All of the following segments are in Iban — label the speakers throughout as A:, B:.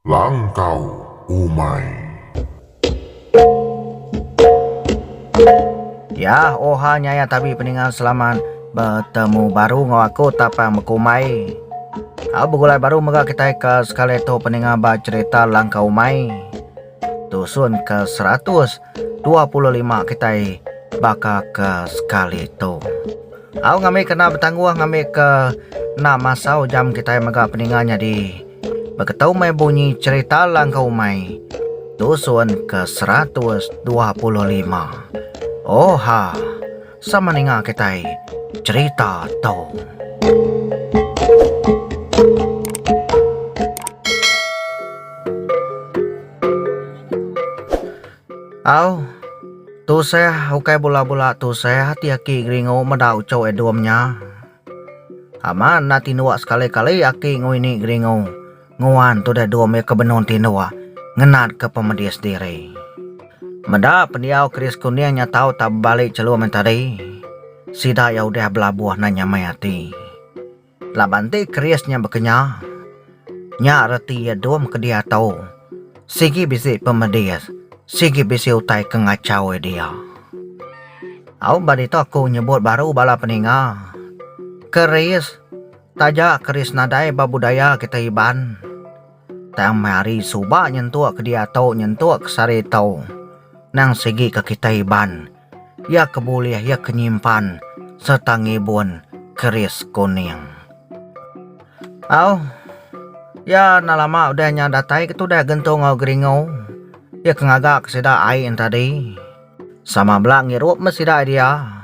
A: Langkau umai.
B: Yah oha nyaya tabi peninga selamat betemu baru enggau aku tapang bekumbai. Au begulai baru mega kitai ke sekali tu peninga ba cherita langkau umai. Tusun ke seratus dua puluh lima kitai baka ke sekali tu. Au ngambi kena betangguh ngambi ke enda masau jam kitai mega peninga nyadi beketu meh bunyi cerita langkau umai tusun ke seratus dua puluh lima. Oha. Sama ninga kitai cerita tu. Au. Tusah ukai bula-bula tusah ati aki geringu meda uchu Edom nya. Aman enda tinduk sekali-kali aki ngui ni geringu. Nguan tudah dua mih ke benung ti indu ngenatka pemedis diri. Meda pendiau Chris Kuning nya tau tak bebali chelum nya tadi, sida iya udah belabuh nan nyamai ati. Laban ti Chris nya bekenya, nya reti iya dum ke diatu sigi bisi pemedis, sigi bisi utai ke ngachaui dia. Au ba ditu aku nyebut baru bala peninga, Chris Taja keris nadai ba budaya kitai Iban, tang meh ari suba nyentuk ke diatu nyentuk ke sehari tau nang sigi ke kitai Iban iya ke bulih iya ke nyimpan sereta ngibun keris kuning. Au iya enda lama udah nya datai ke tudah gentu enggau Geringo iya ke ngaga ke sida ai yen tadi sama bela ngirup meh sida dia.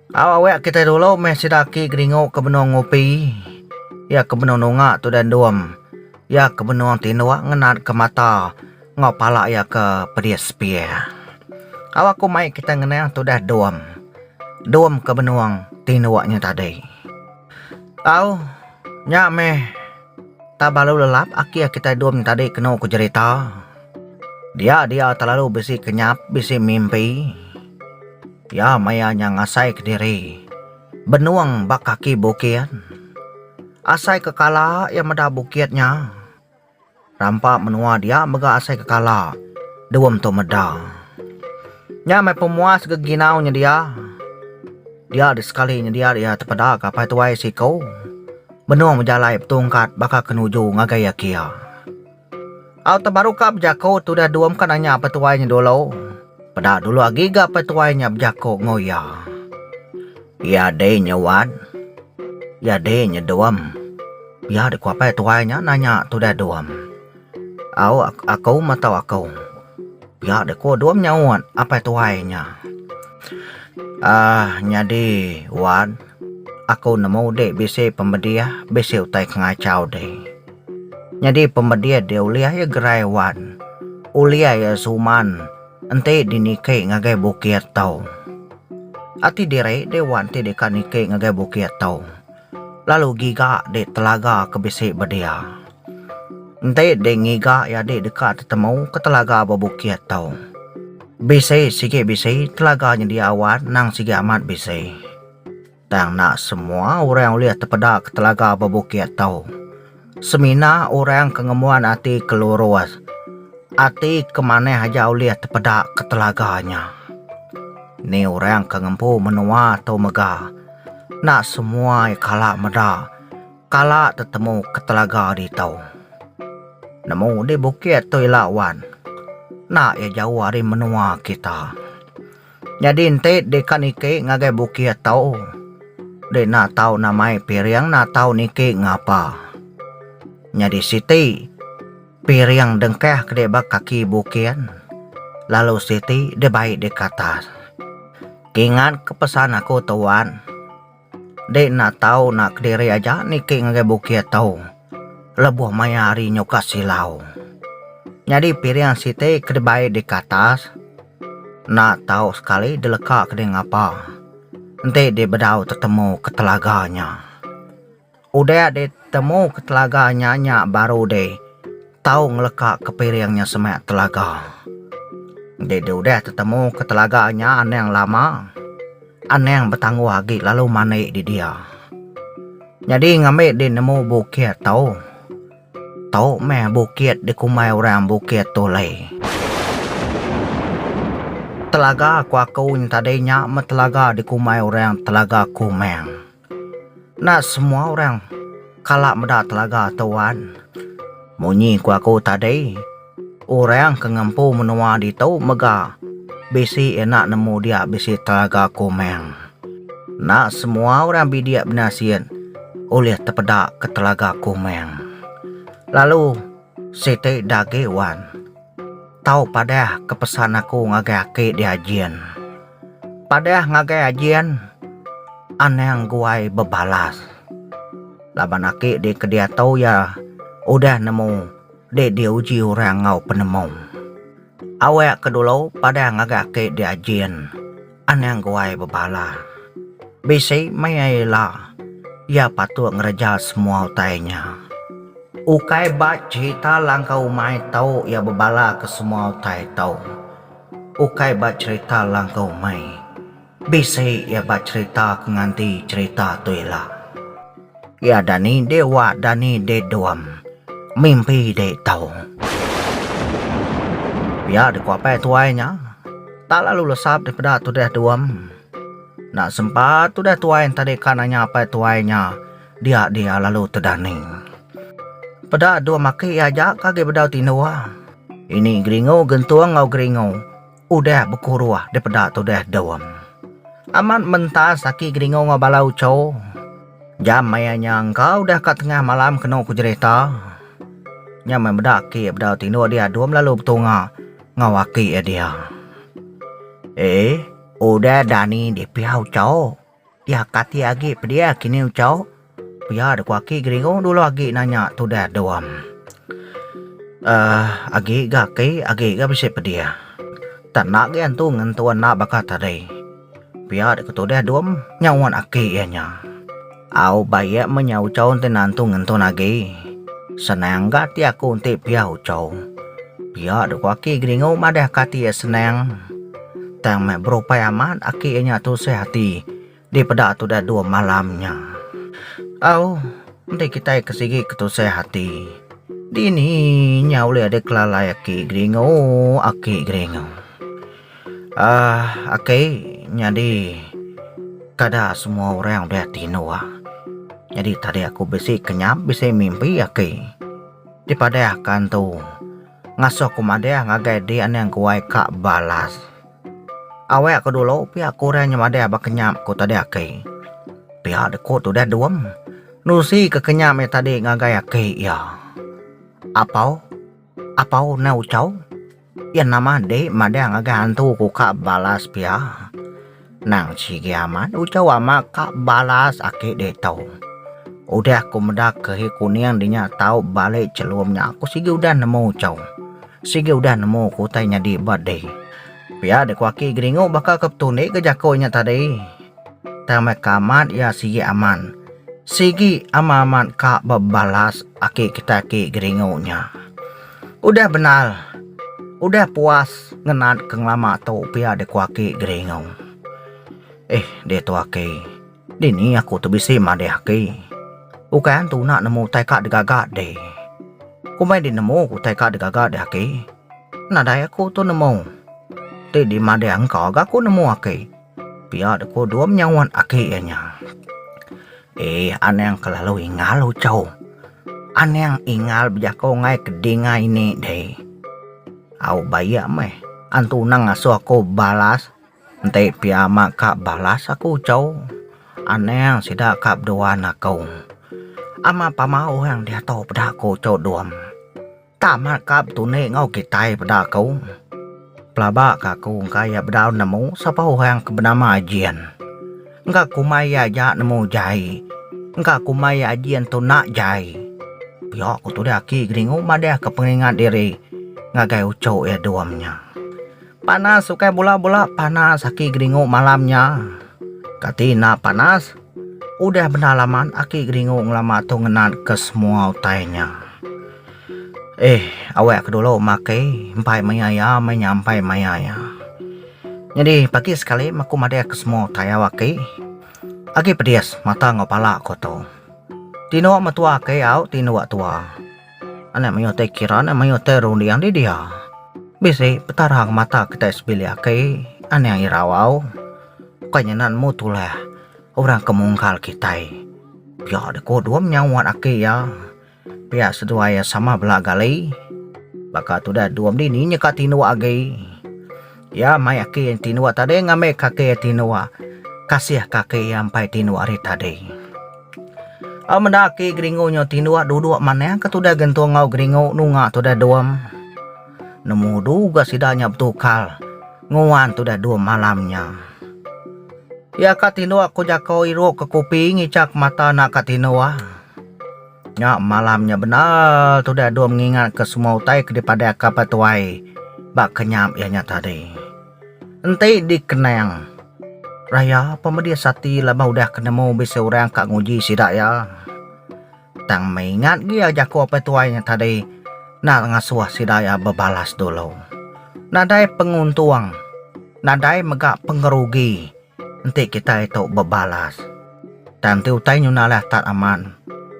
B: Au awek kitai dulu meh sida aki geringu ke benung ngupi iya ke benung nunga tudai endum iya ke benung tinduk ngenat ke mata enggau pala iya ke pedis pie. Au aku mai kitai ngenang tudai dum dum ke benung tinduk nya tadi. Au nya meh ta belalu lelap aki aki kitai dum nya tadi kenu ku jerita dia dia telalu bisi kenyap bisi mimpi. Iya maya nya ngasai kediri benung ba kaki bukit. Asai ke kala iya meda bukit nya. Rampa menua dia mega asai ke kala dua mentua meda. Nya meh pemuas geginau nyedia. Dia di sekali nyedia iya tepeda ke apai tuai siku benung bejalai betungkat baka ke nuju ngagai iya kia. Au tebaru ka bejaku tudah dua meka nanya petuai nya dulu. Peda dulu agi ga petuai nya bejaku enggau iya. Iya deh nya wat. Iya deh nya dum. Pia deh ku apai tuai nya nanya tudah dum. Au aku meh tau aku. Pia deh ku dum nyaut apai tuai nya. Aaa nyadi wat. Aku nemu dek bisi pemedih bisi utai kengachau dek. Nyadi pemedih dek ulih ya gerai wan. Ulih ya suman enti di niki ngagai bukit tau. Ati diri dek wan ti deka niki ngagai bukit tau. Lalu giga dek telaga ke bisi bedia. Enti ding ngiga iya dih deka tetemu ke telaga bebukit tu. Bisi sigi bisi telaga nyedia awan nang sigi amat bisi. Tang enda semua orang ulih tepeda ke telaga bebukit tu. Semina orang ke ngembuan ati ke lurus, ati ke manah aja ulih tepeda ke telaga nya. Ni orang ke ngempu menua tu mega enda semua iya kala meda. Kala tetemu ke telaga ditu. Nemu di bukit tu ila wan. Enda iya jauh ari menua kita. Nyadi enti dikan iki ngagai bukit tu deh enda tau namai piring enda tau niki ngapa. Nyadi siti piring dengkah ke deh ba kaki bukit lalu siti deh bai di katas. Ingat ke pesan aku tu wan. Dei enda tau na kediri aja niki ngagai bukit tu lebuh maya hari nyu ka silau. Nyadi piring siti ke dibai di katas enda tau sekali dileka ke dei ngapa enti di bedau tetemu ke telaga nya. Udah di temu ke telaga nya nya baru di tau ngeleka ke piring nya semak telaga. Enti di udah tetemu ke telaga nya anang lama anang betangguh agi lalu mandi di dia. Nyadi ngambi di nemu bukit tau tau meh bukit di kumbai orang bukit tulei. Telaga ku aku tadi nya meh telaga di kumbai orang telaga kumang. Enda semua orang kala meda telaga tu wan. Munyi ku aku tadi orang ke ngempu menua ditu mega bisi enda nemu dia bisi telaga komang. Enda semua orang bidik benasit ulih tepeda ke telaga komang. Lalu siti enda agi wan. Tau padah ke pesan aku ngagai aki dia Ajin. Padah ngagai Ajin anang guai bebalas. Laban aki dia ke diatu iya udah nemu dek diuji orang enggau penemu. Awak ke dulu padah ngagai aki dia Ajin. Anang guai bebala, Bisi meh iya ila. Iya patut ngereja semua utai nya. Ukai ba cherita langkah umai tu iya bebala ke semua utai tu. Ukai ba cherita langkah umai. Bisi iya ba cherita ke nganti cherita tu ila. Ya dani dek wa dani dek dom mimpi dek tau. Pia dek ko apai tuai nya tak lalu lesap dek peda tudah dom. Enda sempa tudah tuai enta dek ka nanya apai tuai nya dia dia lalu tedani. Peda dom aki aja ka agei bedau tindua. Ini geringu gentung enggau geringu. Udah bekuruh dipeda tudah Dom. Amat mentas aki Geringo enggau bala ucho. Jam maya nya engka udah ka tengah malam kenu ku jerita. Nya meh meda aki bedau tinduk dia Dom lalu betunga enggau aki iya dia. Ee, udah Dani dipia ucho. Dia kati agi pediah kini ucau. Pia da ku aki geringu dulu agi nanya tudah dom. Aah agi ga aki agi ga bisi pediah. Tak enda agi antu ngentua enda baka tadi. Pia da ku tudah dom nyaut aki iya nya. Au ba iya meh nya ucau enti nantu ngentun agi. Senang ga ati aku enti pia ucau. Pia da ku aki geringu madah kati iya senang. Tang meh berupai amat aki iya nya tusah ati dipeda tudah dua malam nya. Au, enti kitai ke sigi ke tusah ati, dini nya ulih deh kelalai aki geringu, aki geringu. Um aki nyadi kada semua orang udah tinduh. Nyadi tadi aku bisi kenyap bisi mimpi aki dipadahka entu. Ngasuh ku madih ngagai dia ning guai ka balas. Awek ku dulu pia ku orang nya madih ba kenyap ku tadi aki. Pia de ku tudah Duem nusi ke kenyap iya tadi ngagai aki iya. Apau apau neh Uchau iya nama dik madih ngagai hantu ku ka balas pia. Nang sigi amat ujar wama ka balas aki ditu. Udah ku meda kehe kuning dinya tau balik celum nya aku sigi udah nemu cau. Sigi udah nemu ku utai nyadi ba deh. Pia deh ku aki geringu baka ke betunik ke jaku nya tadi. Tang meh ka amat iya sigi aman. Sigi amat amat ka bebalas aki kita aki geringu nya. Udah bendar. Udah puas ngenat ke ngelama tu pia deh ku aki Geringu. Eh ditu aki, dini aku tu bisi madih aki. Ukai an tuna nemu utai ka digaga deh. Kombai deh nemu ku utai ka digaga deh aki. Nadai aku tu nemu. Ti dimadih engka ga ku nemu aki. Pia de ko dom nyauan aki iya nya. Eh anang kelalu ingal ucho. Anang ingal bejako ngai ke ding ngai ini deh. Au baia meh an tunang ngaso aku balas enti pia ama ka balas aku ucho. Anang sida ka bedua nako. Ama pama orang diato peda ko ucho dom. Tang meh ka betunik enggau kitai peda aku. Pelaba ka aku engka iya bedau nemu sapa orang ke benama Ajin. Engka kumbai iya aja nemu jai. Engka kumbai iya Ajin tu enda jai. Pia ku Tuda Aki Geringu madahka pengingat diri ngagai uchu iya Dom nya. Panas ukai bula-bula panas aki geringu malam nya. Kati enda panas? Udah bendar laman aki geringu ngelama tu ngenat ke semua utai nya. Eh, awak ke dulu makai empai maya iya meh nya empai maya iya. Nyadi pagi sekali meh aku madah ke semua utai au aki. Agi pedis mata enggau pala aku tu. Tinduk mentua aki au tinduk tua. Anak mayuh tai kira, anak mayuh tai runding di dia. Bisi Petara ngemata kitai sebilik agi, anang irau au. Ukai nyana nemu tulah orang ke munggal kitai. Pia dei kudum nya wat aki iya. Pia seduai iya sama bela gali. Baka tudah dom dini nya ka tindu agi. Iya mai aki enti nuwa tadi ngambi kaki enti nuwa kasih kaki iya empai enti nuwa hari tadi. Au meda aki geringu nyo enti nuwa dudok manah ke tudah gentung au geringu nunga tudah dom nemu du ga sida nya betukar nguan tudah dom malam nya. Iya ka enti nuwa ko jako irup ke kupi ngichak mata anak ka enti nuwa. Nya malam nya bendar tudah Dua mengingatka semua utai ke dipadahka ba tuai ba kenyap iya nya tadi. Enti dikenang, Raya pemedis ati laban udah ke nemu bisi orang ka nguji sida iya. Tang meh ingat gia jaku apai tuai nya tadi nak ngasuh sida iya bebalas dulu. Nadai penguntung, nadai mega pengerugi. Enti kitai tu bebalas. Tang ti utai nyuna alai atat amat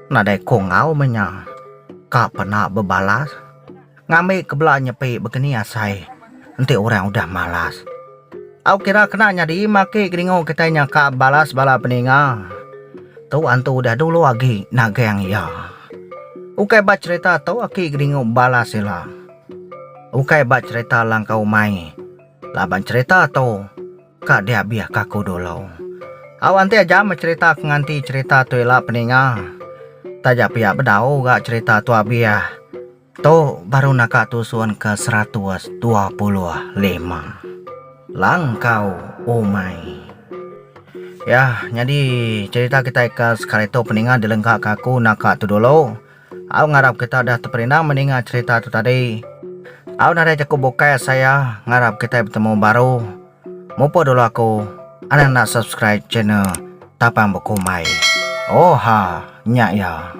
B: nadai ko enggau meh nya ka pena bebalas ngambi ke bela nyepi begeni asai enti orang udah malas. Au kira kena nyadi meh ake kedingu kitai nya ka balas bala peninga tu antu udah dulu agi nagang iya. Ukai ba cherita tu ake kedingu balas ila. Ukai ba cherita langkau mai laban cherita tu. Ka dia bih ka ku dulu. Au anti aja meh cerita ke nganti cerita tu ila peninga. Taja pia bedau ga cerita tua bih. Tu baru naka tusun ke seratus dua puluh lima. Langkau umai. Ya nyadi cerita kitai ke sekali tu peninga dilengka ka aku naka tu dulu. Au ngarap kita udah teperindah meninga cerita tu tadi. Au nadai jaku bukai asa iya ngarap kitai betemu baru. Mupuk dulu aku anang enda subscribe channel Tapang Bekumbai. Oha nya iya.